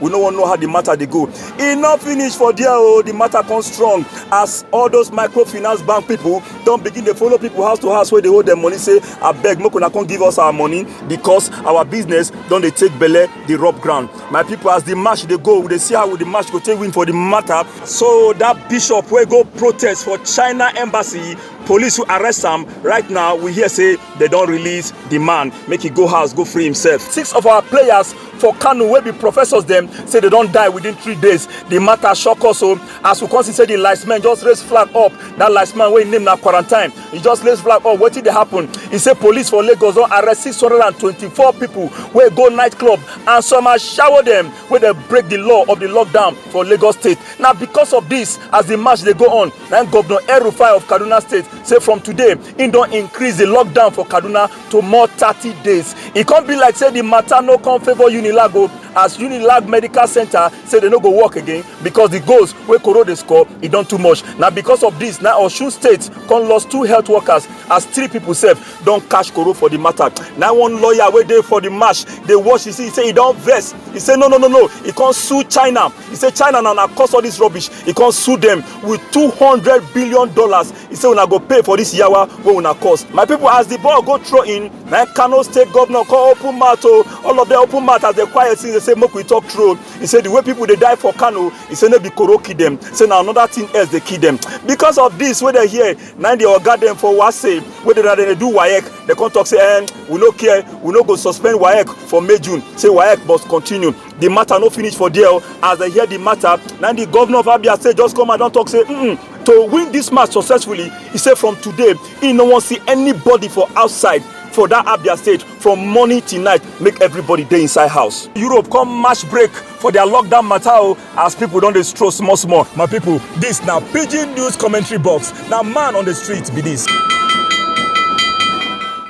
we no wan know how the matter dey go e no finish for there o oh, the matter come strong as all those microfinance bank people don begin dey follow people house to house wey dey owe dem money say abeg make una come give us our money because our business don dey take belle dey rub ground my people as the match dey go we dey see how the match go take win for the matter so that bishop wey go protest for china embassy police who arrest am right now we hear say they don release the man make he go house go free himself six of our players for kano wey be professors dem say they don die within three days the matter shock us o oh. as we come see say the last man just raise flag up that last man wey im name na quarantine he just raise flag up wetin dey happen he say police for lagos don arrest six hundred and twenty-four people wey go night club and some are shower dem wey dey break the law of the lockdown for lagos state na because of this as the march dey go on na governor el-rufai of kaduna state say from today im don increase the lockdown for kaduna to more thirty days e come be like say the matter no come favour unilag o as unilag medical center say they no go work again because the goals wey koro dey score e don too much na because of this na osun state come lost two health workers as three people sef don catch koro for the matter na one lawyer wey dey for the match dey watch e see say e don vex e say no no no no e come sue china e say china na na cause all this rubbish e come sue them with two hundred billion dollars He say una go pay for this yawa wey una cause. My people as the ball go throw in, na Kano state governor come open mouth o. Oh. All of them open mouth as they quiet since they say make we talk true. He say the way people dey die for Kano, he say no be koro kill them. Say na another thing else dey kill them. Because of this wey they hear, na the oga dem for Wase wey dey dey do WAEC, they come talk say eh, we no care, we no go suspend WAEC for May June. Say WAEC must continue. the matter no finish for there as dem hear the matter na the governor of abia state just come and don talk say mm -mm, to win this match successfully he say from today he no wan see anybody for outside for that abia state from morning till night make everybody dey inside house. europe come match break for their lockdown matter o as people don dey stroll small small my people this na pidgin news commentary box na man on the street be this.